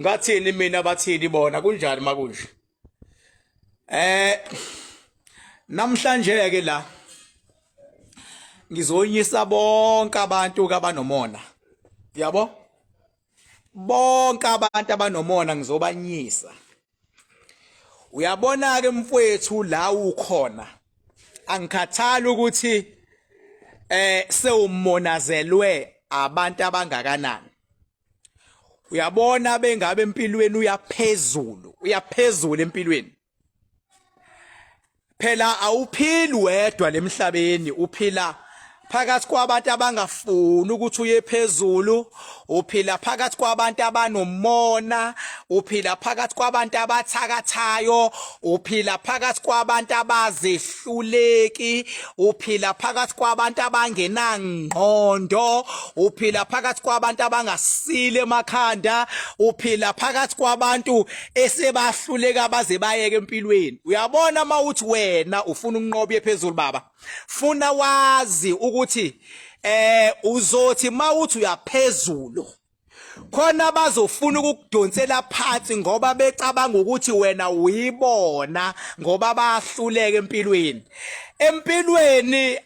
ngathini mina bathini bona kunjani makunje eh namhlanje ke la ngizonyisa bonke abantu kabanomona yabo bonke abantu abanomona ngizobanyisa uyabona ke mfowethu la ukhona angikhathali ukuthi eh sewumonazelwe abantu abangakanani uyabona bengabe empilweni uyaphezulu uyaphezulu empilweni phela awuphili wedwa lemhlabeni uphila phakathi kwabantu abangafuni ukuthi uye phezulu uphila phakathi kwabantu abanomona uphila phakathi kwabantu abathakathayo uphila phakathi kwabantu abazihlwa hluleki uphila phakathi kwabantu abangenangqondo uphila phakathi kwabantu abangasile emakhanda uphila phakathi kwabantu esebahluleka baze bayeke empilweni uyabona mawuthi wena ufuna ukunqoba ephezulu baba funa wazi ukuthi eh uzothi mawuthi uyaphezulu khona bazofuna ukukudonsela phansi ngoba becabanga ukuthi wena uyibona ngoba bahluleke empilweni empilweni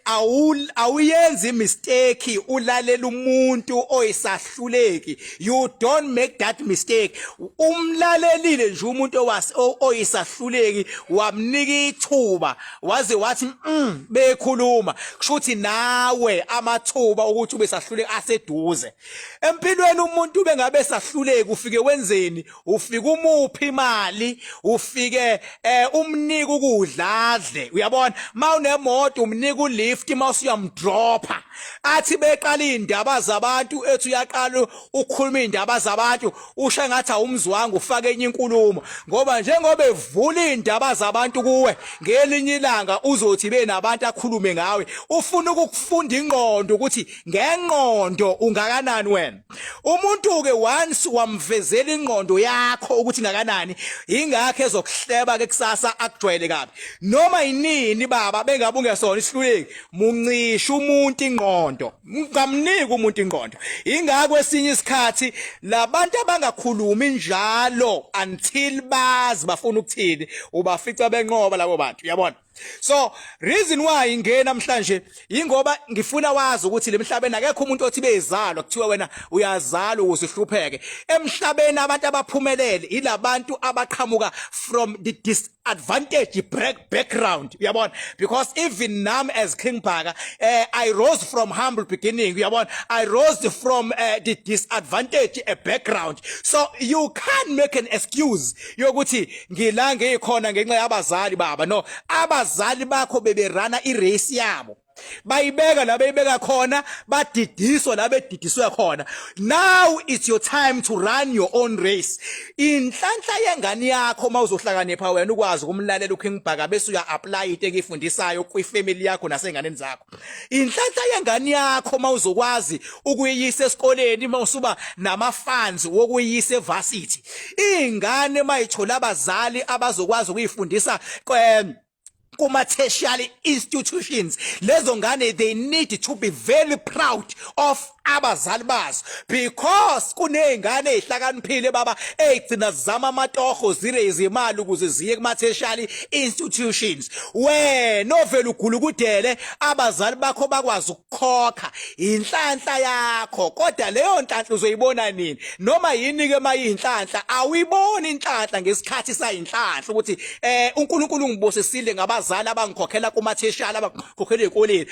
awuyenzi mistake ulalela umuntu oyisahluleki you don't make that mistake umlalelile nje umuntu owase oyisahluleki wamnika ithuba waze wathi mm bekhuluma kushuthi nawe amathuba ukuthi ubesahluleki aseduze Empilweni umuntu bengabe sahluleki ufike wenzeni? Ufike umuphi imali, ufike eh umnika ukudla adle. Uyabona? Mawunemoto umnika ulift mawuse uyamdropha. Athi beqala indaba zabantu ethi uyaqala ukhuluma indaba zabantu usha ngathi awumzwanga ufake enye inkulumo ngoba njengoba evula indaba zabantu kuwe ngelinye ilanga uzothi benabantu akhulume ngawe ufuna ukukufunda ingqondo ukuthi ngengqondo ungakanani wena umuntu ke once wamvezela ingqondo yakho ukuthi ngakanani ingakho ezokuhleba ke kusasa akujwayele kabi noma yinini baba bengabe ungesona isihluleki muncisha umuntu ingqondo ngamniki umuntu ingqondo ingakho esinye isikhathi labantu abangakhulumi njalo until bazi bafuna ukuthini ubafica benqoba labo bantu yabona so reason why ingena namhlanje ingoba ngifuna wazi ukuthi lemhlabeni akekho umuntu othi bezalwa kuthiwa wena uyazalwa ukuze uhlupheke emhlabeni abantu abaphumelele ilabantu abaqhamuka from the disadvantage break background uyabona because even nam as king bhaka uh, i rose from humble beginning uyabona i rose from uh, the disadvantage a eh, background so you can't make an excuse yokuthi ngila ngikhona ngenxa yabazali baba no abazali bakho beberana irace yabo bayibeka la beyibeka khona badidiswa la bedidiswe khona now it's your time to run your own race inhlanhla yengane yakho uma uzohlakanipha wena ukwazi ukumlalela uKing Bhaka bese uya apply into ekifundisayo kwi family yakho nasenganeni zakho inhlanhla yengane yakho mawuzokwazi ukuyiyisa esikoleni mawusuba namafans wokuyiyisa evarsity ingane mayithola abazali abazokwazi ukuyifundisa kwem kuma tertiary institutions lezo ngane they need to be very proud of abazali bazo because kunezingane ezihlakaniphile baba ezigcina zizama amatoho zire izimali ukuze ziye kumatheshali institutions wena ovela ugulukudele abazali bakho bakwazi ukukhokha inhlanhla yakho kodwa leyo nhlanhla uzoyibona nini noma yini ke mayinhlanhla awuyiboni inhlanhla ngesikhathi sayinhlanhla ukuthi eh uNkulunkulu ngibosisile ngabazali abangikhokhela kumatheshali abangikhokhela ezikoleni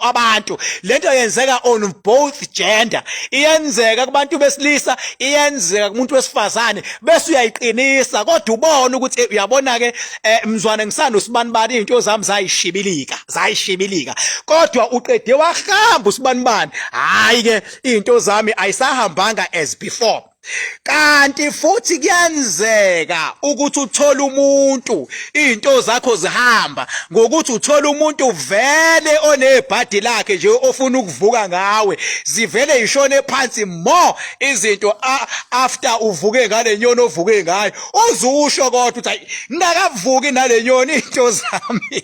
abantu lento yenzeka on both gender iyenzeka kubantu besilisa iyenzeka kumuntu wesifazane bese uyayiqinisa kodwa ubona ukuthi eh, uyabona ke eh, mzwane ngisanda usibani bani into zami zayishibilika zayishibilika kodwa uqede wahamba usibani bani hayi ke into zami ayisahambanga as before kanti futhi kuyenzeka ukuthi uthole umuntu izinto zakho zihamba ngokuthi uthole umuntu vele onebhadi lakhe nje ofuna ukuvuka ngawe zivele ishone phansi more izinto after uvuke ngale nyoni ovuke ngayo uzusho kodwa ukuthi ngingakavuki nale nyoni izinto zami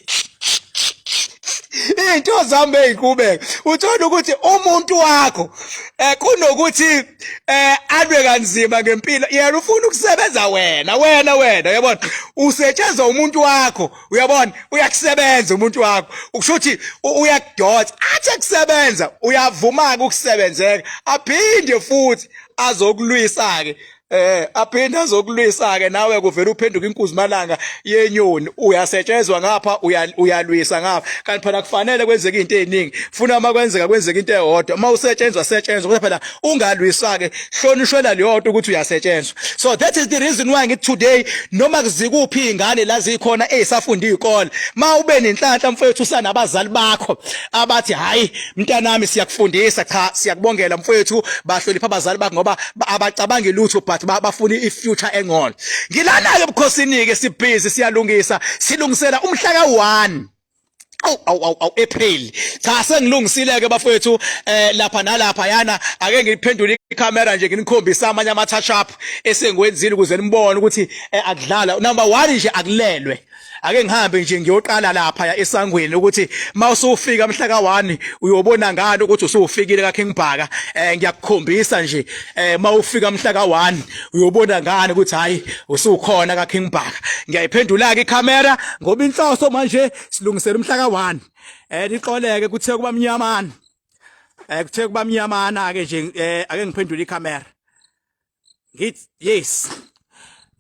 into zami beyiqhubeka uthola ukuthi umuntu wakho eh, kunokuthi eh alwe kanzima ngempilo yena ufuna ukusebenza wena wena wena uyabona usetshenzwa umuntu wakho uyabona uyakusebenza umuntu wakho ukusho ukuthi uyakudotsa athi akusebenza uyavuma ukusebenzeka aphinde futhi azokulwisa ke eh aphinde azokulwisa ke nawe kuvela uphenduka inkuzimalanga yenyoni uyasetshezwa ngapha uyalwisa ngapha kanti phela kufanele kwenzeke izinto eziningi funa uma kwenzeka kwenzeka into eyodwa uma usetshenzwa setshenzwa kodwa phela ungalwisa ke hlonishwela leyodwa ukuthi uyasetshenzwa so that is the reason why ngithi today noma kuzikuphi ingane la zikhona ezisafunda izikole ma ube nenhlanhla mfowethu sanabazali bakho abathi hayi mntanami siyakufundisa cha siyakubongela mfowethu bahlonipha abazali bakho ngoba abacabangi lutho but bafuna i future engcono ngilana ke bukhosini ke sibhizi siyalungisa silungisela umhla ka 1 awu awu awu awu April cha sengilungisile ke bafowethu eh lapha nalapha yana ake ngiphendule icamera nje nginikhombisa amanye ama touch up esengiwenzile ukuze nibone ukuthi eh, akudlala number 1 nje akulelwe ake ngihambe nje ngiyoqala lapha ya esangweni ukuthi mawusufika mhla ka1 uyobona ngani ukuthi usufikile ka King Bhaka eh ngiyakukhombisa nje eh mawufika mhla ka1 uyobona ngani ukuthi hayi usukhona ka King Bhaka ngiyayiphendula ke icamera ngoba inhloso manje silungisela umhla ka 1 eh lixoleke kuthe kuba mnyamana eh kuthe kuba mnyamana ke nje eh ake ngiphendule icamera ngit yes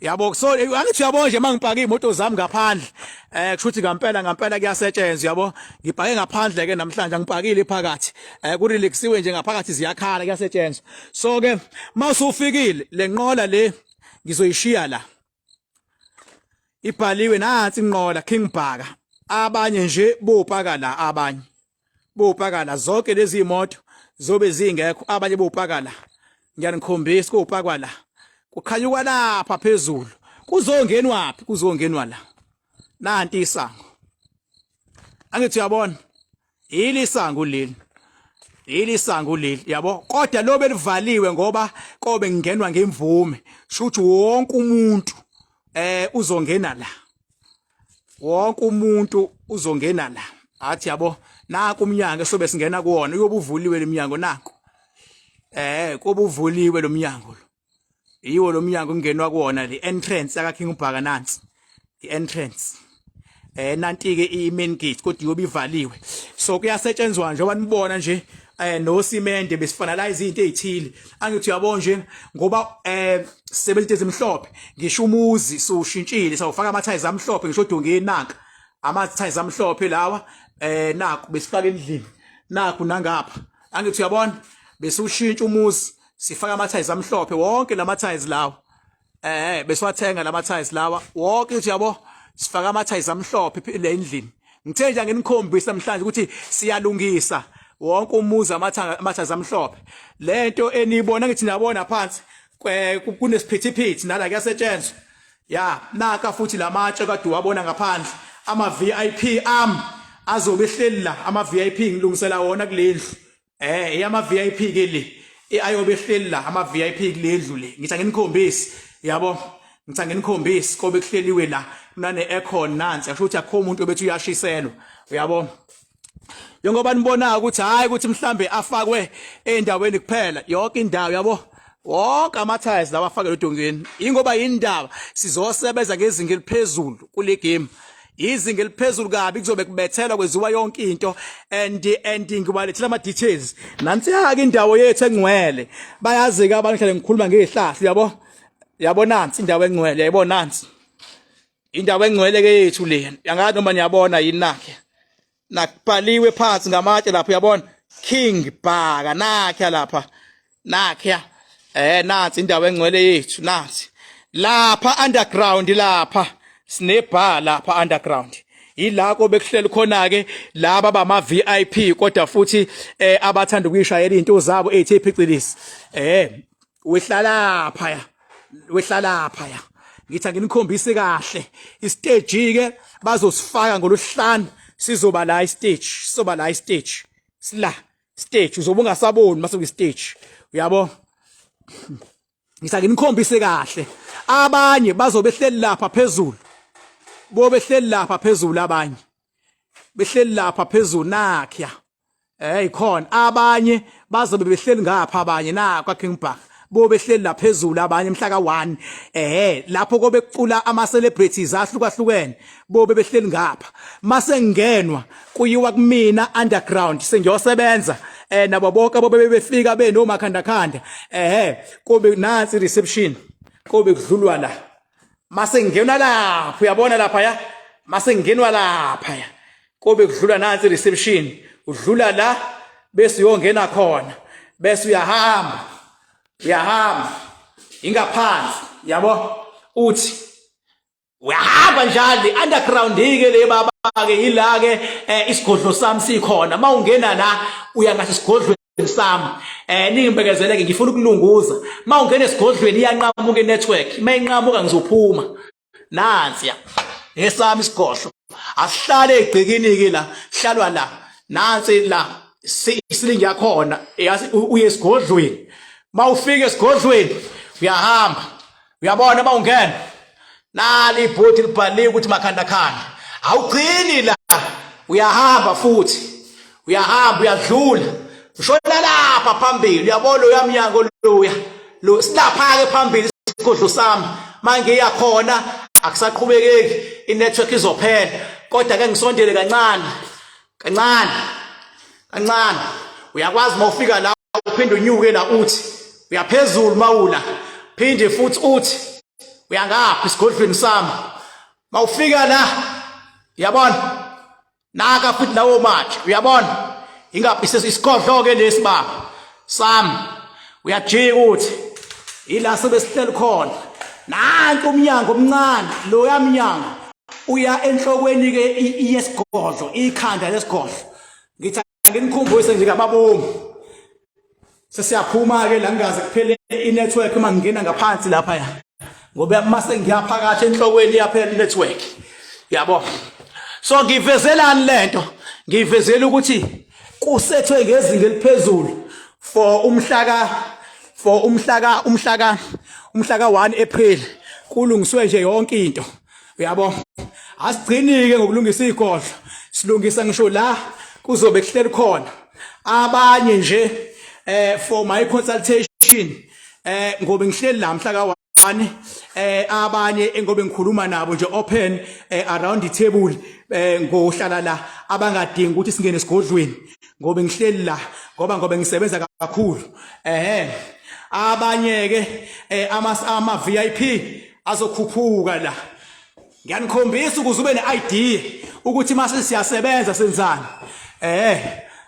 yabo so eh, angithi uyabo nje mangipaka imoto zami ngaphandle eh kushuthi ngampela ngampela kuyasetshenzwa yabo ngibhake ngaphandle ke namhlanje ngipakile phakathi eh ku relaxiwe nje ngaphakathi ziyakhala kuyasetshenzwa so ke mawusufikile lenqola le ngizoyishiya la ibhaliwe nansi inqola king bhaka abanye nje bopaka la abanye bopaka la zonke lezi imoto zobe zingekho abanye bopaka la ngiyanikhombisa kopakwa la kukhanyuka lapha phezulu kuzongenwaphi kuzongenwa la nanti isango angithi uyabona yili sangu leli yili sangu leli yabo kodwa lo belivaliwe ngoba kobe ngingenwa ngemvume shuthi wonke umuntu eh uzongena la wonke umuntu uzongena la athi yabo naku umnyango sobe singena kuwona uyobuvuliwe leminyango naku eh kobuvuliwe lomnyango lo yiwo lo mnyango kungenwa kuwona the entrance aka King Ubhaka nansi the entrance eh nanti ke i main gate kodwa iyobe ivaliwe so kuyasetshenzwa nje obanibona nje eh no simende besifanalize izinto ezithile angithi uyabo nje ngoba eh sebenzite ezimhlophe ngisho umuzi sushintshile sawufaka ama ties amhlophe ngisho dongeni nanka ama ties amhlophe lawa eh naku besifaka endlini naku nangapha angithi uyabona besushintsha umuzi sifaka ama tiles amhlophe wonke lama tiles lawa eh besiwathenga lama tiles lawa wonke uthi yabo sifaka ama tiles amhlophe le endlini ngithe nje nginikhombisa namhlanje ukuthi siyalungisa wonke umuzi amathaza amhlophe lento eniyibona ngithi niyabona phansi kunesiphithiphithi nala kuyasetshenzwa ya naka futhi lamatshe kade wabona ngaphandle ama VIP am azobe ehleli la ama VIP ngilungisela wona kulendlu eh eyama VIP ke le ayobe ehleli la ama VIP kulendlu le ngitha nginikhombisi yabo ngitha nginikhombisi kobe kuhleliwe la kunane aircon nansi asho ukuthi akho umuntu obethi uyashiselwa uyabo njengoba nibona ukuthi hayi ukuthi mhlambe afakwe endaweni kuphela yonke indawo yabo wonke amathiles lawa afakelwe edongeni ingoba yindaba sizosebenza ngezinga eliphezulu kule game izinga eliphezulu kabi kuzobe kubethelwa kweziwa yonke into and and ngibalethela ama details nansi yake indawo yethu engcwele bayazi ke abantu hlale ngikhuluma ngezihlahla yabo yabo nansi indawo engcwele yabo nansi indawo engcwele ke yethu le yangathi noma niyabona yini nakhe nakubhaliwe phansi ngamatshe lapho uyabona king bhaka nakhe lapha nakhe eh nansi indawo engcwele yethu nansi lapha underground lapha sine bar lapha underground yilako bekuhleli khona ke laba bama VIP kodwa futhi eh abathanda ukuyishayela izinto zabo ethi phicilisi eh wehlala phaya wehlalapha ya ngithi anginikhombisi kahle istage ke bazosifaka ngoluhlanu sizoba la istage sizoba la istage sila stage uzobe ungasaboni mase kwistage uyabo ngisa nginikhombise kahle abanye bazobe hleli lapha phezulu bobe hleli lapha phezulu abanye behleli lapha phezulu nakhya eh ikhona abanye bazobe behleli ngapha abanye na kwa King Park bobe hleli laphezulu abanye mhla ka1 ehe lapho kobe kucula ama celebrities ahlukahlukene bobe behleli ngapha mase ngenwa kuyiwa kumina underground sengiyosebenza eh nabo bonke abobe befika benomakhanda khanda ehe kobe nansi reception kobe kudlulwa la masengenwa lapha uyabona lapha ya masengenwa lapha ya kobe kudlula nansi reception udlula la bese uyongena khona bese uyahamba uyahamba ingaphansi yabo uthi uyahamba njalo underground ke le baba ke yila ke eh, isigodlo sami sikhona mawungena la uya ngase sigodlweni sami eh ningibekezeleke ngifuna ukulunguza mawungena esigodlweni iyanqamuka inetwork mayinqamuka ngizophuma nansi ya esami isigodlo asihlale egcikini ke la hlalwa la nansi la isilingi yakhona uye esigodlweni mawufika esigodlweni uyahamba uyabona uma ungena nali ibhodi libhaliwe ukuthi makhandakhanda awugcini la uyahamba futhi uyahamba uyadlula ushona lapha phambili uyabona uyamnyango luya lo silapha-ke phambili isigodlo sami mangiya khona akusaqhubekeki inetwork izophela kodwa ke ngisondele kancane kancane kancane uyakwazi uma ufika la uphinde unyuke la uthi uyaphezulu mawula phinde futhi uthi uyangaphi isigodlweni sami mawufika la uyabona naka futhi lawo mathe uyabona ingaphi isigodlo ke lesi baba Sam uyajika ukuthi ila sebesihleli khona nanti umnyango omncane lo yamnyango uya enhlokweni ke yesigodlo ikhanda lesigodlo ngithi nginikhumbuse nje kababomu sesiyaphuma ke la ngingaze kuphele i network uma ngingena ngaphansi lapha ya ngoba mase ngiyaphakathi enhlokweni yaphela network yabo so ngivezelani lento ngivezela ukuthi kusethwe ngezinga eliphezulu for umhlaka for umhlaka umhlaka umhlaka 1 April kulungiswe nje yonke into uyabo asigcinike ngokulungisa igodlo silungisa ngisho la kuzobe kuhleli khona abanye nje eh for my consultation eh ngobe ngihleli la mhla ka bani eh abanye engobe ngikhuluma nabo nje open eh, around the table eh ngohlala la abangadingi ukuthi singene sigodlweni ngobe ngihleli la ngoba ngobe ngisebenza kakhulu ehe abanye ke eh, ama ama VIP azokhuphuka la ngiyanikhombisa ukuze ube ne-idea ukuthi mase siyasebenza senzani eh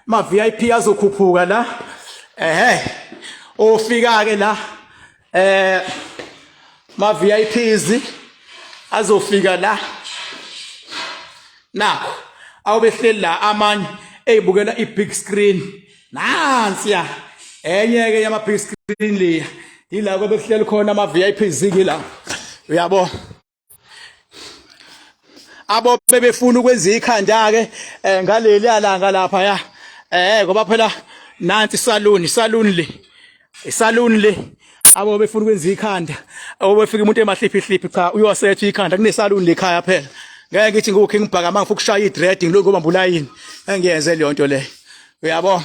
ma VIP azokhuphuka la eh ofika ke la eh ma VIPs azofika la nakho awubehleli la amanye eyibukela i-big screen nansiya enye ke yama-big screen leya yilako bekuhleli khona ama-VIPs ke la uyabo abo bebefuna ukwenza ikhanda ke eh, ngaleli alanga lapha ya eh ngoba phela nansi saluni saluni le isaluni le abo befuna ukwenza ikhanda obefika umuntu emahliphi hliphi cha uyosetha ikhanda kunesaluni lekhaya phela ngeke ngithi ngukhe ngibhaka mangifuna ukushaya idread ngilokho bambulayini engiyenze leyo nto le uyabo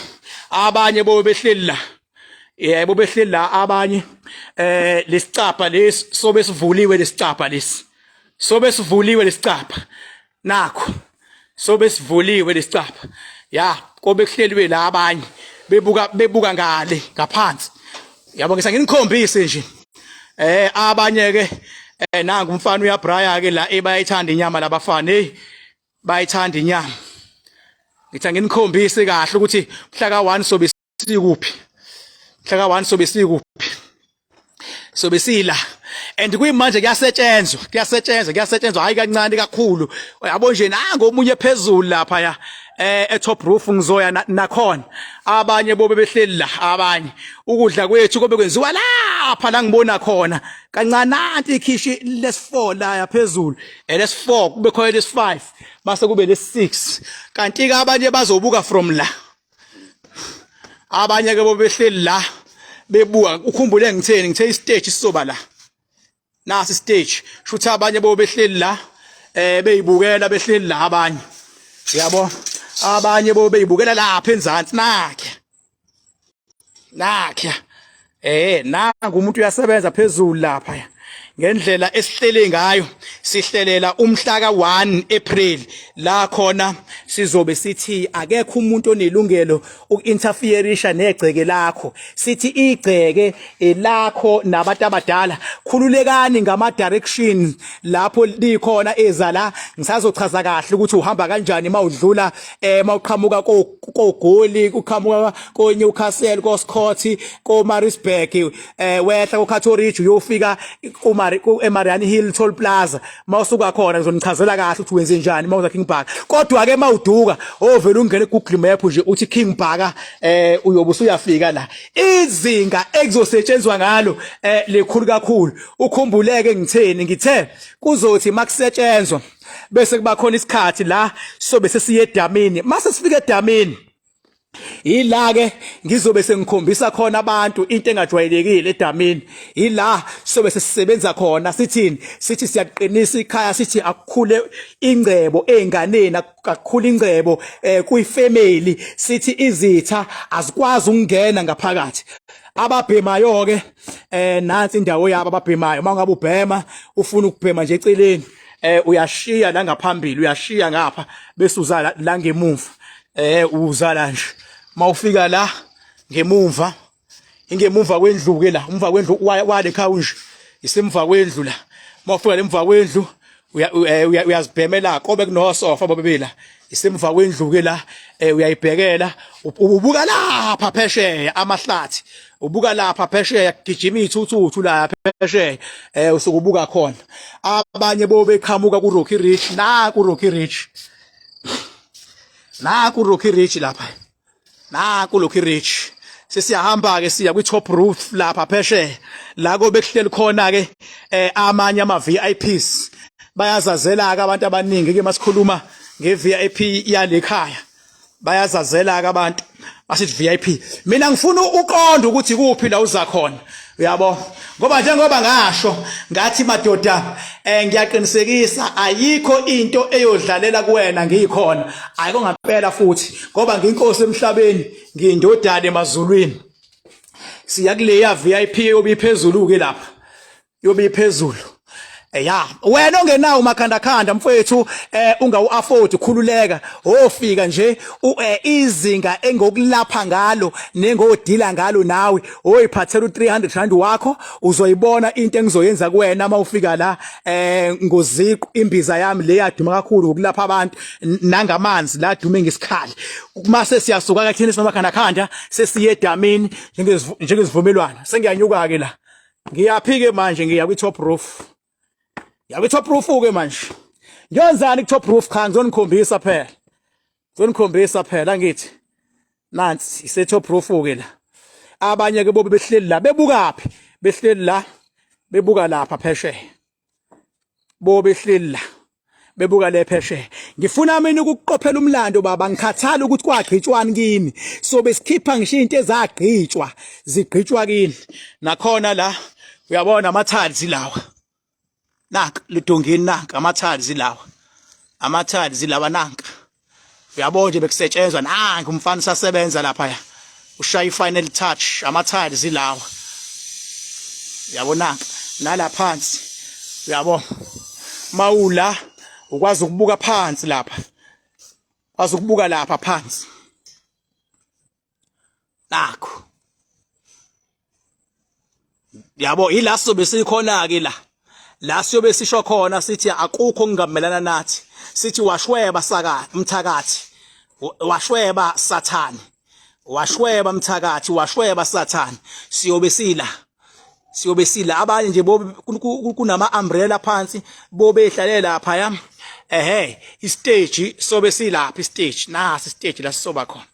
abanye bo behleli la yebo behleli la abanye eh lesicapha lesi sobe sivuliwe lesicapha lesi sobe sivuliwe lesicapha nakho sobe sivuliwe lesicapha ya kobe kuhleliwe la abanye bebuka bebuka ngale ngaphansi yabo ngisa nginikhombise nje eh abanye ke eh nangu umfana uyabraya ke la ebayithanda inyama labafana hey bayithanda inyama ngithe nginikhombise kahle ukuthi mhla ka1 sobe sikuphi mhlaka one sobe sikuphi sobe sila and kuyimanje kuyasetshenzwa kuyasetshenzwa kuyasetshenzwa hayi kancane kakhulu yabo nje nango omunye phezulu lapha ya eh etop roof ngizoya nakhona abanye bobe behleli la abanye ukudla kwethu kobe kwenziwa lapha la ngibona khona kancananti ikhishi lesi4 la yaphezulu elesi4 kube khona lesi5 base kube lesi6 kanti ke abanye bazobuka from la abanye ke bobehleli la bebuka ukhumbule ngitheni ngithe istage sizoba la nasi stage shuthi abanye bobehleli la eh beyibukela behleli la abanye yabo abanye bobeyibukela lapha enzansi nakhe nakhe eh nangu umuntu uyasebenza phezulu lapha ngendlela esihlele ngayo sihlelela umhla ka1 April la khona sizobe sithi akekho umuntu onelungelo ukinterferisha negceke lakho sithi igceke elakho nabantu abadala khululekani ngama direction lapho likhona ezala ngisazochaza kahle ukuthi uhamba kanjani mawudlula eh mawuqhamuka kogoli uqhamuka koNewcastle koScotti koMaritzburg eh wehla koCato Ridge uyofika kuMari eMariani Hill Toll Plaza mawusuka khona ngizonichazela kahle ukuthi wenze njani mawuza King Park kodwa ke mawuduka ovela ungene Google Map nje uthi King Park eh uyobe usuyafika la izinga ekuzosetshenzwa ngalo eh likhulu kakhulu ukhumbuleke ngitheni ngithe kuzothi makusetshenzwa bese kuba khona isikhathi la sobe sesiye edamini mase sifika edamini Yila ke ngizobe sengikhombisa khona abantu into engajwayelekile edamini. Yila sobe sesisebenza khona sithini? Sithi siyaqinisa ikhaya sithi akukhule ingcebo ezinganeni akukhule ingcebo eh kuyi family sithi izitha azikwazi ukungena ngaphakathi. Ababhemayo ke eh nansi indawo yabo ababhemayo. Uma ngabe ubhema ufuna ukubhema nje eceleni eh uyashiya la ngaphambili uyashiya ngapha bese uzala la ngemumva eh uzala nje mawufika la ngemumva ingemumva kwendlu ke la umva kwendlu wale khawu nje isemva kwendlu la mawufika lemva kwendlu eh, uyazibhemela kobe kunosofa bobebela isemva kwendlu-ke la um uyayibhekela ubuka lapha phesheya amahlathi ubuka lapha phesheya kugijima iy'thuthuthu la phesheya um usuke ubuka khona abanye bo beqhamuka ku-rocky rich na ku-rocky rich na ku-rocky rich lapha na kulokhu rich sesiyahamba ke siya kwi top roof lapha pheshe la ko bekuhleli khona ke eh, amanye ama VIPs bayazazela ke abantu abaningi ke masikhuluma nge VIP yalekhaya bayazazela ke abantu basithi VIP mina ngifuna uqonda ukuthi kuphi la uza khona uyabo ngoba njengoba ngasho ngathi madoda eh ngiyaqinisekisa ayikho into eyodlalela kuwena ngiyikhona ayiko ngampela futhi ngoba nginkosi emhlabeni ngindodane emazulwini siya kuleya VIP yobiphezulu ke lapha yobiphezulu Eh, ya wena ongenawo umakhandakhanda mfowethu eh ungawu afford khululeka ofika nje eh, izinga engokulapha ngalo nengodila ngalo nawe oyiphathela u300 rand wakho uzoyibona into engizoyenza kuwena uma ufika la eh ngoziqu imbiza yami le yaduma kakhulu ngokulapha abantu nangamanzi la dume ngesikhali mase siyasuka kathini simakhandakhanda sesiye edamini njengezivumelwana sengiyanyuka ke la ngiyaphike manje ngiya kwi top roof ya kwi top roof ke manje ngiyonzani ku top roof cha ngizonikhombisa phela ngizonikhombisa phela ngithi nansi ise top roof ke la abanye ke bobe behleli la bebukaphi behleli la bebuka lapha phesheya bobe hleli la bebuka le phesheya ngifuna mina ukuqophela umlando baba ngikhathala ukuthi kwagqitshwani kimi so besikhipha ngisho into ezagqitshwa zigqitshwa kini nakhona la uyabona amathalzi lawa naka ludongeni naka amathalzi lawa amathalzi lawa naka uyabo nje bekusetshenzwa nangu umfana usasebenza lapha ya ushaya i-final touch ama-tiles ilawa uyabonaka nala phansi uyabo mawula ukwazi ukubuka phansi lapha wazi ukubuka lapha phansi nakho yabo ila sobe sikhona ke la la siyobe sisho khona sithi akukho kungamelana nathi sithi washweba saka mthakathi washweba sathane washweba mthakathi washweba sathane siyobe sila siyobe sila abanye nje kunama umbrella phansi bobe ehlalela lapha yami ehe istage sobe silapha istage nasi istage la sisoba khona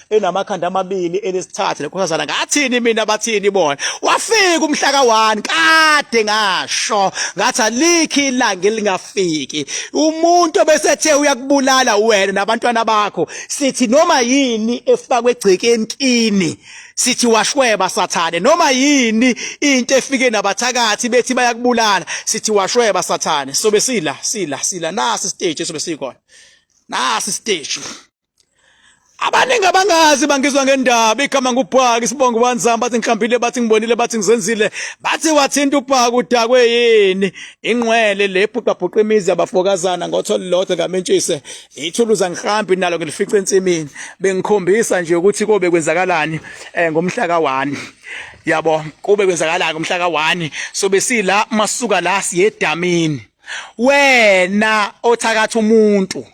enamakhanda amabili elesithathu lekhosazana ngathini mina bathini bona wafika umhlaka wani kade ngasho ngathi alikhi ilanga elingafiki umuntu obesethe uyakubulala wena nabantwana bakho sithi noma yini efakwe egcekeni kini sithi washweba sathane noma yini into efike nabathakathi bethi bayakubulala sithi washweba sathane sobe sila sila sila nasi stage sobe sikona nasi stage abaningi abangazi bangizwa ngendaba igama ngubhaka isibongo banzama bathi ngihlambile bathi ngibonile bathi ngizenzile bathi wathinta ubhaka udakwe yini ingqwele le bhuqabhuqa imizi yabafokazana ngotho lilodwa ngamentshise ithuluza ngihambi nalo ngilifice ensimini bengikhombisa nje ukuthi kobe kwenzakalani eh, ngomhla ka-1 yabo kube kwenzakalani ngomhla ka-1 so besila masuka la siyedamini wena othakatha umuntu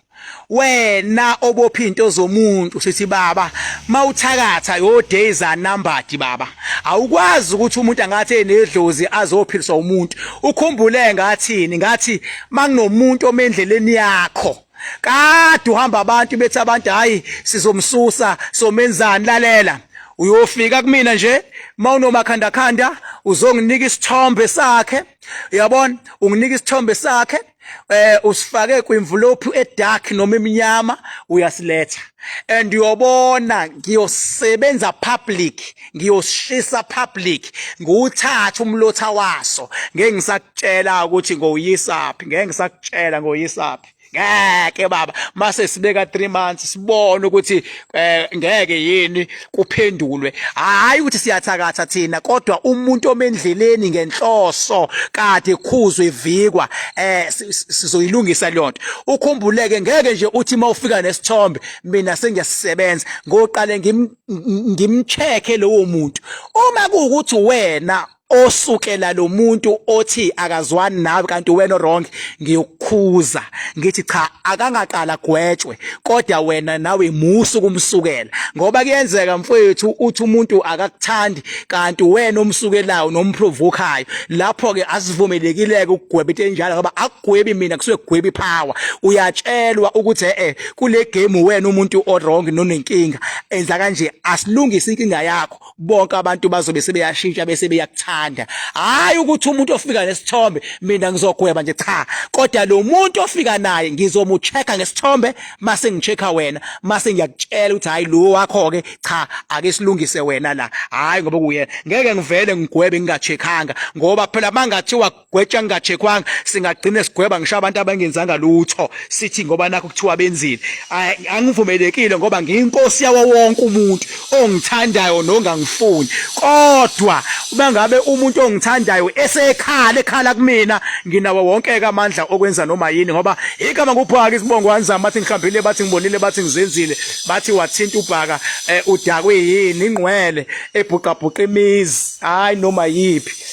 wena obopha into zomuntu sithi baba mawuthakatha yo days are numbered baba awukwazi ukuthi umuntu angathi enedlozi azophiliswa umuntu ukhumbule ngathini ngathi makunomuntu omendleleni yakho kade uhamba abantu bethi abantu hayi sizomsusa somenzani lalela uyofika kumina nje mawunomakhandakhanda uzonginika isithombe sakhe uyabona unginika isithombe sakhe eh usifake kwimvulophu edark noma emnyama uyasiletha and uyobona ngiyosebenza public ngiyosishisa public nguthatha umlotha waso ngeke ngisakutshela ukuthi ngowuyisaphi ngeke ngisakutshela ngowuyisaphi ngeke baba mase sibeka 3 months sibone ukuthi eh ngeke yini kuphendulwe hayi ukuthi siyathakatha thina kodwa umuntu omendleleni ngenhloso kade khuzwe ivikwa eh sizoyilungisa leyonto ukhumbuleke ngeke nje uthi mawufika nesithombe mina sengiyasebenza ngoqale ngimcheke lowo muntu uma kuwukuthi wena osukela lo muntu othi akazwani nawe kanti wena wrong ngiyokukhuza ngithi cha akangaqala gwetshwe kodwa wena nawe musu kumsukela ngoba kuyenzeka mfowethu uthi umuntu akakuthandi kanti wena omsukelayo nomprovokayo lapho ke asivumelekileke ukugweba into enjalo ngoba akugwebi mina kusuke kugwebi power uyatshelwa ukuthi eh kule game wena umuntu o wrong nonenkinga enza kanje asilungise inkinga yakho bonke abantu bazobe sebeyashintsha bese beyakuthanda hayi ukuthi umuntu ofika nesithombe mina ngizogweba nje cha kodwa lo muntu ofika naye ngizomuchecka ngesithombe mase ngichecka wena mase ngiyakutshela ukuthi hayi lo wakho ke cha ake silungise wena la hayi ngoba kuyena ngeke ngivele ngigwebe ngingacheckanga ngoba phela mangathiwa gwetsha ngingachekwanga singagcine sigweba ngisho abantu abangenzanga lutho sithi ngoba nakho kuthiwa benzile angivumelekile ngoba ngiyinkosi yawo wonke umuntu ongithandayo nongangifuni kodwa uma ngabe umuntu ongithandayo esekhala ekhala kumina nginawo wonke ke amandla okwenza noma yini ngoba igama kuphaka isibongo wanzama bathi ngihlambile bathi ngibonile bathi ngizenzile bathi wathinta ubhaka eh, udakwe yini ingqwele ebhuqabhuqa imizi hayi noma yiphi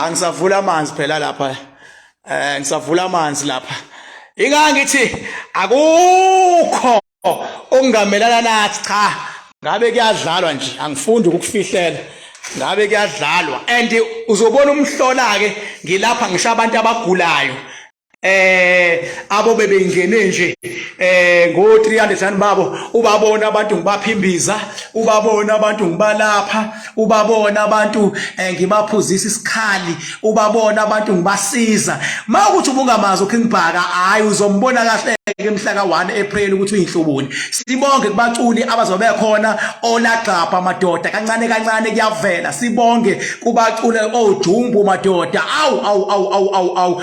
cha ngisavula amanzi phela lapha eh ngisavula amanzi lapha inga ngithi akukho okungamelana nathi cha ngabe kuyadlalwa nje angifundi ukufihlela ngabe kuyadlalwa and uzobona umhlola ke ngilapha ngisho abantu abagulayo eh abo bebengene nje eh ngo 300 rand babo ubabona abantu ngibaphimbiza ubabona abantu ngibalapha ubabona abantu eh, ngibaphuzisa isikhali ubabona abantu ngibasiza mawukuthi ubungamazi uKing Bhaka hayi uzombona kahle ke mhla ka 1 April ukuthi uyinhlubuni sibonge kubaculi abazobe khona olagxapha madoda kancane kancane kuyavela sibonge kubacule ojumbu madoda awu awu awu awu awu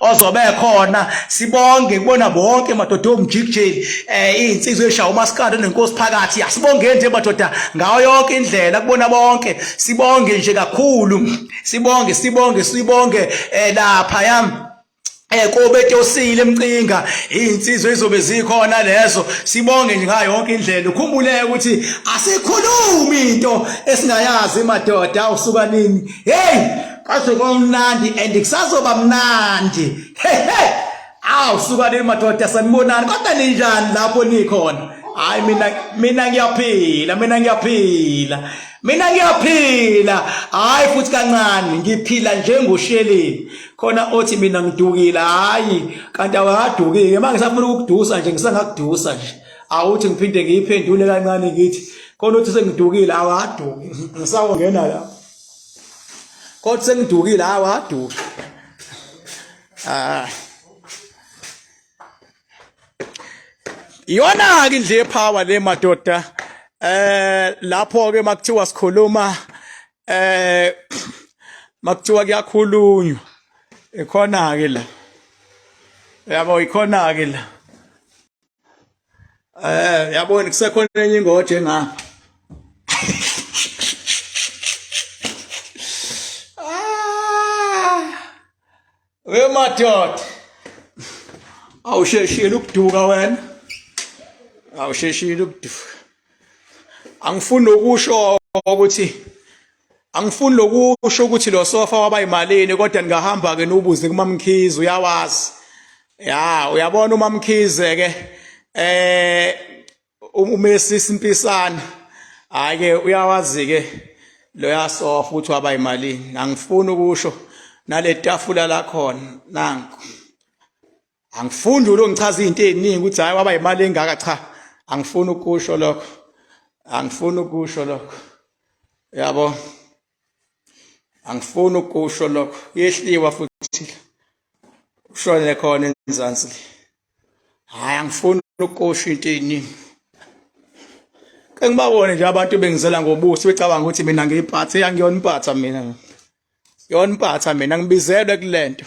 ozobe khona sibonge kubona bonke madoda omjikijeli eh izinsizwe eshawa umaskandi nenkosi phakathi asibonge nje madoda ngayo yonke indlela kubona bonke sibonge nje kakhulu sibonge sibonge sibonge eh lapha yami eh kobe tosile emcinga izinsizwe izobe zikhona lezo sibonge nje ngayo yonke indlela ukhumbule ukuthi asikhulumi into esingayazi madoda usuka nini hey kwaze kwamnandi and kusazoba mnandi hehe aw sukanini madoda sanibonani kodwa ninjani lapho nikhona hayi mina mina ngiyaphila mina ngiyaphila mina ngiyaphila hayi futhi kancane ngiphila njengosheleni khona othi mina ngidukile hayi kanti awakadukike manje ngisafuna ukukudusa nje ngisangakudusa nje awuthi ngiphinde ngiyiphendule kancane ngithi khona uthi sengidukile awaduki ngisawongena lapho Kodwa sengidukile hayi waduka. Ah. Iyona ke nje power le madoda. Eh lapho ke makuthiwa sikhuluma eh makuthiwa kuyakhulunywa. Ikhona ke la. Yabo ikhona ke la. eh yabona kusekhona enye ingoje nga ah we madoda awusheshile ukuduka wena awusheshile ukuduka angifuni nokusho ukuthi angifuni nokusho ukuthi lo sofa waba imalini kodwa ningahamba ke nubuze kumamkhize uyawazi ya uyabona umamkhize ke eh umesi simpisana hayi ke uyawazi ke lo yasofa ukuthi waba imalini angifuni ukusho naletafula lakhona nanku angifundi ulongichaza izinto eziningi ukuthi hayi waba imali engaka cha angifuni ukusho lokho angifuni ukusho lokho yabo angifuni ukusho lokho yehliwa futhi ushone khona enzansi hayi angifuni ukusho into eziningi kengibawone nje abantu bengizela ngobuso becabanga ukuthi mina ngiyiphathe yangiyona impatha mina yona impatha mina ngibizelwe kulento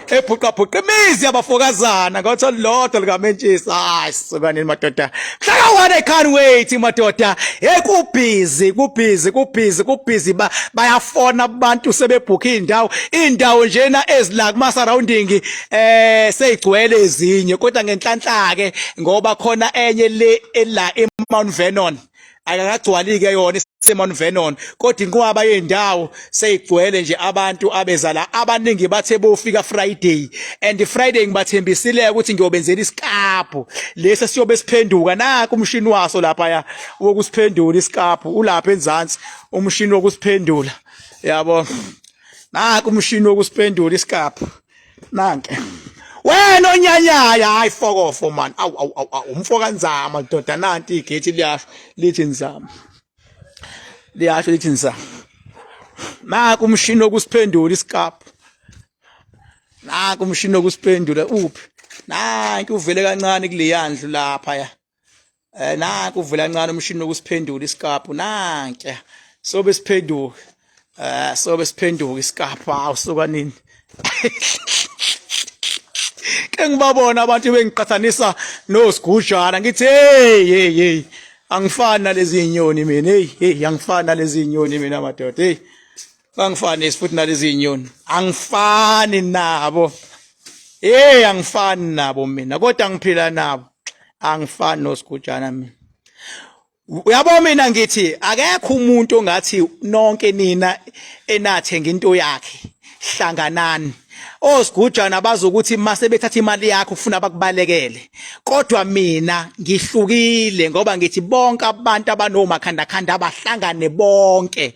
ebhuqabhuqa imizi yabafokazana ngotho lodwa likamentshisa hayi sibanini madoda hlaka wona i can't wait madoda hey kubhizi kubhizi kubhizi kubhizi bayafona abantu sebebhukha indawo indawo njena ezila kuma surrounding eh seyigcwele ezinye kodwa ngenhlanhla ke ngoba khona enye le ela eMount Vernon akakagcwalike yona isemon venon kodwa inqwaba yendawo seyigcwele nje abantu abeza la abaningi bathe bofika friday and friday ngibathembisile ukuthi ngiyobenzela isikaphu lesi siyobe siphenduka naku umshini waso lapha ya wokusiphendula isikaphu ulapha enzansi umshini wokusiphendula yabo naku umshini wokusiphendula isikaphu nanke wena onyanyaya hayi fokofo man awu awu awu umfo kanzama doda nanti igethi liyasho lithi nzama liyasho lithi nzama naku umshini wokusiphendula isikapu naku umshini wokusiphendula uphi nanki uvele kancane kuleyandlu lapha ya eh nanku uvela kancane umshini wokusiphendula isikaphu nanke so besiphenduka eh so besiphenduka isikaphu awu suka nini ke ngibabona abantu bengiqhathanisa nosigujana ngithi hey hey hey angifani nalezi inyoni mina hey hey angifani nalezi inyoni mina madoda hey bangifani futhi nalezi inyoni angifani nabo hey angifani nabo mina kodwa ngiphila nabo angifani nosigujana mina uyabo mina ngithi akekho umuntu ongathi nonke nina enathenga into yakhe hlanganani osigujana bazokuthi mase bethatha imali yakho ufuna bakubalekele kodwa mina ngihlukile ngoba ngithi bonke abantu abanomakhandakhanda abahlangane bonke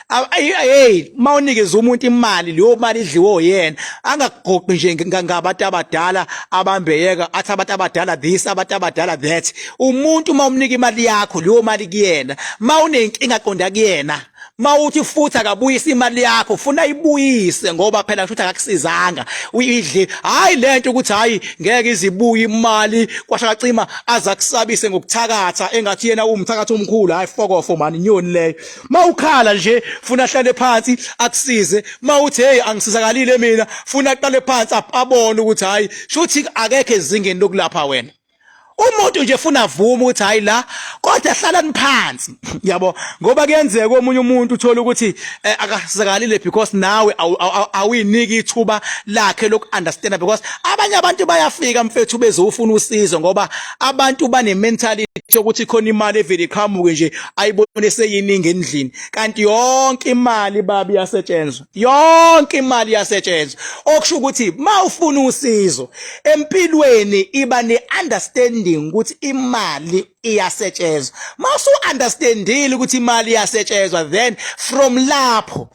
hey uma unikeza umuntu imali leyo mali idliwe oyena angakugoqi nje ngabantu abadala abambeyeka athi abantu abadala this abantu abadala that umuntu uma umnika imali yakho leyo mali kuyena uma unenkinga qonda kuyena mawuthi futhi akabuyisa imali yakho funa ibuyise ngoba phela kusho ukuthi akakusizanga uyidle hayi lento ukuthi hayi ngeke izibuye imali kwashakacima azakusabise ngokuthakatha engathi yena umthakathi omkhulu hayi fokofo mani nyoni leyo mawukhala nje funa ahlale phansi akusize mawuthi hey angisizakalile mina funa aqale phansi abone ukuthi hayi shuthi akekho ezingeni lokulapha wena umuntu nje funa avuma ukuthi hayi la kodwa hlalani phansi yabo ngoba kuyenzeka omunye umuntu uthola ukuthi eh, akasizakalile because nawe awuyiniki ithuba lakhe lokuunderstand because abanye abantu bayafika mfethu bezofuna usizo ngoba abantu bane mentality yokuthi khona imali evele iqhamuke nje ayibone seyiningi endlini kanti yonke imali babi yasetshenzwa yonke imali yasetshenzwa okusho ukuthi mawufuna usizo empilweni iba ne understanding ukuthi imali iyasetshenzwa mawusu understandile ukuthi imali iyasetshenzwa then from lapho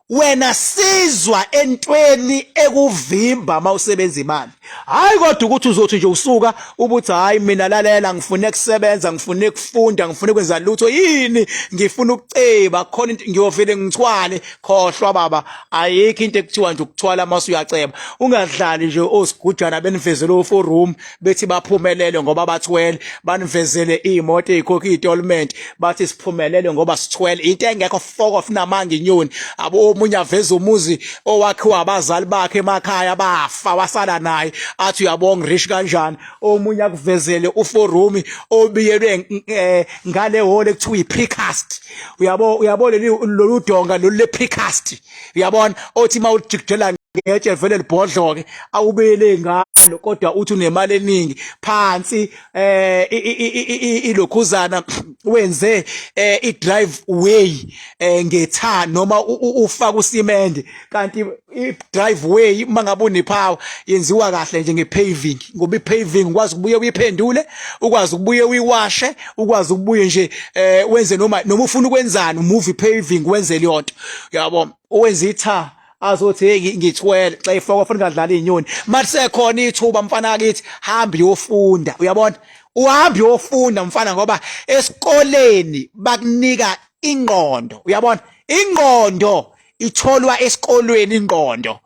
wena sizwa entweni ekuvimba uma usebenza imali hayi kodwa ukuthi uzothi nje usuka ubuthi hayi mina lalela ngifuna ukusebenza ngifuna ukufunda ngifuna ukwenza lutho yini ngifuna ukuceba khona into ngiyovele ngithwale khohlwa baba ayikho into ekuthiwa nje ukuthwala uma usuyaceba ungadlali nje osigujana benivezela oforum bethi baphumelele ngoba bathwele banivezele imoto eyikhokha itournament bathi siphumelele ngoba sithwele into engekho foko finamanga inyoni abo omunye aveza umuzi owakhiwa abazali bakhe emakhaya bafa wasala naye athi uyabonga rich kanjani omunye akuvezele uforumi obiyelwe eh, ngale hole kuthiwa iprecast uyabo uyabo lolu donga lolu leprecast uyabona othi uma ulijikijela ngetshe vele libhodloke awubele ngalo kodwa uthi unemali eningi phansi eh ilokhuzana wenze eh, i drive way eh, ngetha noma ufaka usimende kanti i drive way uma ngabe unephawa yenziwa kahle nje ngepaving ngoba ipaving ukwazi ukubuye uyiphendule ukwazi ukubuye uyiwashe ukwazi ukubuye nje eh wenze noma noma ufuna ukwenzani umuvi paving wenze leyonto yabo owenza itha azothi hey ngithwele xa ifaka ufuna ngadlala inyoni mathe khona ithuba mfana akithi hamba yofunda uyabona uhamba yofunda mfana ngoba esikoleni bakunika ingqondo uyabona ingqondo itholwa esikolweni ingqondo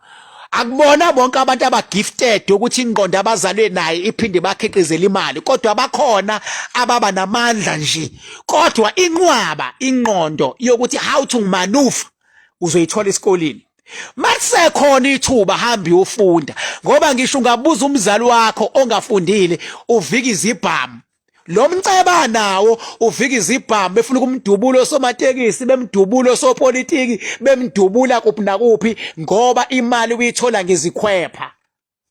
akubona bonke abantu abagifted ukuthi ingqondo abazalwe naye iphinde bakhiqizele imali kodwa bakhona ababa namandla nje kodwa inqwaba ingqondo yokuthi how to maneuver uzoyithola esikoleni Masekhona ithuba hamba uyofunda ngoba ngisho ungabuza umzali wakho ongafundile uvika izibhamu lo mceba nawo uvika izibhamu befuna ukumdubulo somatekisi bemdubulo sopolitiki bemdubula kuphi nakuphi ngoba imali uyithola ngezikhwepha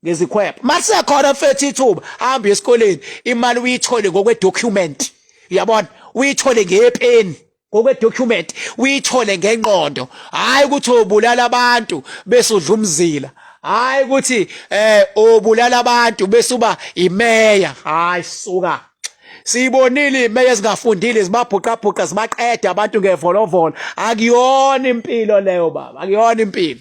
ngezikhwepha masekhona mfethu ithuba hamba esikoleni imali uyithole ngokwe document uyabona uyithole ngepeni ngokwe document uyithole ngenqondo hayi ukuthi ubulala abantu bese udla umzila hayi ukuthi eh ubulala abantu bese uba imeya hayi suka siyibonile imeya ezingafundile zibabhuqabhuqa zibaqeda abantu ngevolovolo akuyona impilo leyo baba akuyona impilo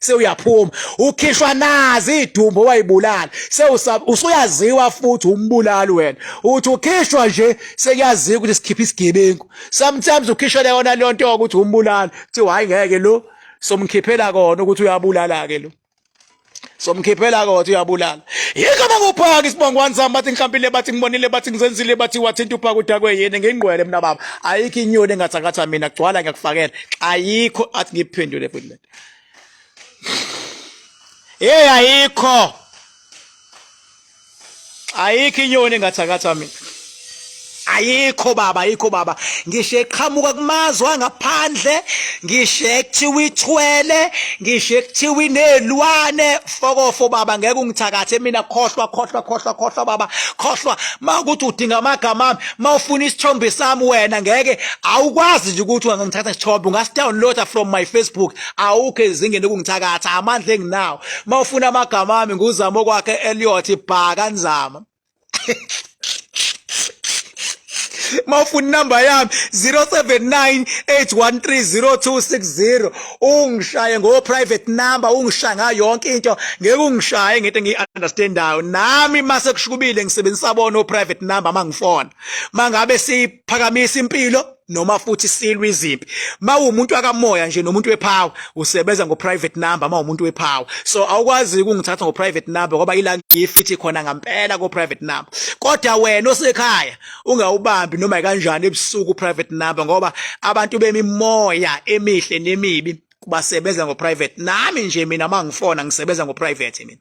sewuyaphuma ukhishwa nazi idumbo wayibulala sewusaba usuyaziwa futhi umbulali wena uthi ukhishwa nje sekuyaziwa ukuthi sikhipha isigebengu sometimes ukhishele yona leyo nto ukuthi umbulali kuthiwa hayi ngeke lo somkhiphela kona ukuthi uyabulala ke lo somkhiphela kodwa uyabulala yikho bakuphaka isibongo wanzama bathi ngihlambile bathi ngibonile bathi ngizenzile bathi wathinta uphaka udakwe yini ngingqwele mina baba ayikho inyoni engathakatha mina gcwala ngiyakufakela ayikho athi ngiphendule futhi Hey ayikho. Ayikho inyoni engathakatha mina. ayikho baba ayikho baba ngisho eqhamuka kumazwe angaphandle ngisho ekuthiwa ithwele ngisho ekuthiwa inezilwane fokofo baba ngeke ungithakathe mina khohlwa khohlwa khohlwa khohlwa baba khohlwa makuthi udinga amagama ami uma ufuna isithombe sami wena ngeke awukwazi nje ukuthi ungangithatha isithombe ungasidownloada from my facebook awukho ezingeni ukungithakatha amandla enginawo uma ufuna amagama ami nguzama okwakhe eliot bhaka nzama uma ufuna inamba yami 079 813 0260 ungishaye ngo private number ungishaya ngayo yonke into ngeke ungishaye ngento engiyi understandayo nami mase kushukubile ngisebenzisa bona o private number mangifona mangabe siphakamisa impilo noma futhi silwa izimpi mawumuntu akamoya nje nomuntu wepower usebenza ngo private number mawumuntu wepower so awukwazi ukungithatha ngo private number ngoba ila ngifithi khona ngampela ko private number kodwa wena osekhaya ungawubambi noma kanjani ebusuku private number ngoba abantu bemimoya emihle nemibi kubasebenza ngo private nami nje mina mangifona ngisebenza ngo private mina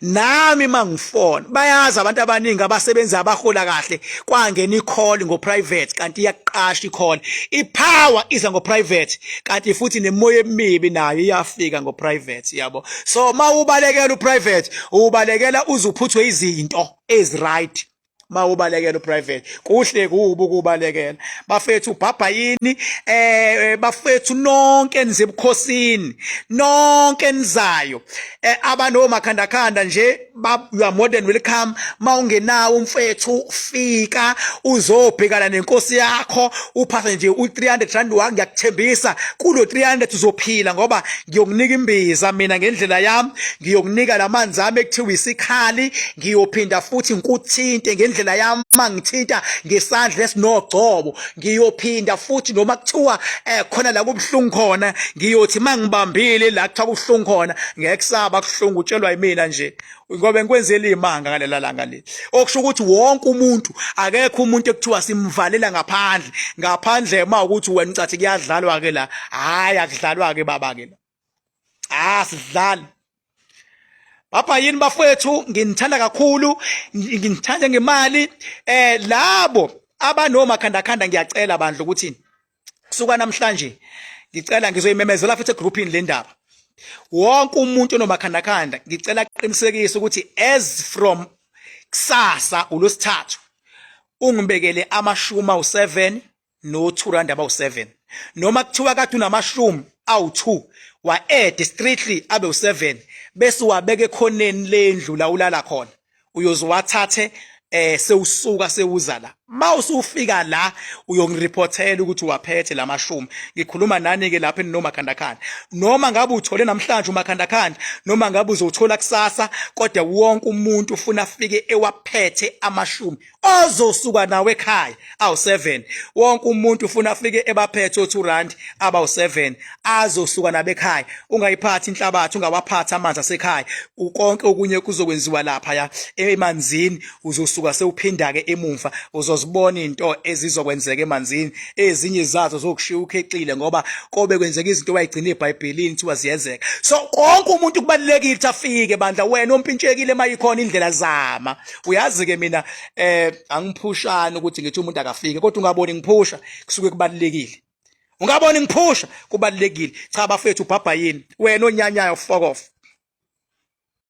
nami mangifona bayazi abantu abaningi abasebenzi abahola kahle kwangena icall ngo private kanti iyaqasha icall ipower iza ngo private kanti futhi nemoya emibi nayo iyafika ngo private yabo so mawubalekela u private ubalekela uzuphuthwe izinto eziright mawubalekela uprivate kuhle kubi ukubalekela bafethu ubhabha yini eh bafethu nonke nize ebukhosini nonke nizayo eh, abano makhanda khanda nje you are more than welcome mawungenawo umfethu fika uzobhekana nenkosi yakho uphathe nje u300 rand wangiyakuthembisa kulo 300 uzophila ngoba ngiyokunika imbiza mina ngendlela yami ngiyokunika lamanzi ami ekuthiwa isikhali ngiyophinda futhi ngikuthinte ngendlela yami uma ngithinta ngesandla esinogcobo ngiyophinda futhi noma kuthiwa eh khona la kubuhlungu khona ngiyothi mangibambile la kuthiwa kubuhlungu khona ngeke kusaba kuhlungu utshelwa yimina nje ngoba ngikwenzela imanga ngalela langa le okusho ukuthi wonke umuntu akekho umuntu ekuthiwa simvalela ngaphandle ngaphandle uma ukuthi wena ucathi kuyadlalwa ke la hayi akudlalwa ke baba ke la ah sidlali Baba yini bafethu nginithanda kakhulu nginithanda ngemali eh labo abanoma khanda khanda ngiyacela bandla ukuthi kusuka namhlanje ngicela ngizoyimemezela futhi egroupini le ndaba wonke umuntu onomakhandakhanda ngicela aqinisekise ukuthi as from kusasa ulosithathu ungibekele amashumi awu-7 no-2 rand abawu-7 noma kuthiwa kade unamashumi awu-2 wa-ede strictly abe u-7 bese uwabeka ekhoneni lendlu la ulala khona uyozowathathe eh sewusuka sewuza la ma usufika la uyongirepotela ukuthi waphethe lamashumi ngikhuluma nani ke lapha enomakhandakhanda noma ngabe uthole namhlanje umakhandakhanda noma ngabe uzothola kusasa kodwa wonke umuntu ufuna afike ewaphethe amashumi ozosuka nawe ekhaya awu7 wonke umuntu ufuna afike ebaphethe o2 rand abawu7 azosuka nabekhaya ungayiphathi inhlabathi ungawaphatha amanzi asekhaya konke okunye kuzokwenziwa lapha ya emanzini uzosuka sewuphinda ke emumva uzozibona into ezizokwenzeka emanzini ezinye zazo zokushiya ukhexile ngoba kobe kwenzeka izinto wayigcina eBhayibhelini thiwa ziyenzeka so konke umuntu kubalekile ukuthi afike bandla wena ompintshekile mayikhona indlela zama uyazi ke mina eh angiphushani ukuthi ngithi umuntu akafike kodwa ungaboni ngiphusha kusuke kubalekile ungaboni ngiphusha kubalekile cha bafethu ubhabha yini wena onyanyayo fokof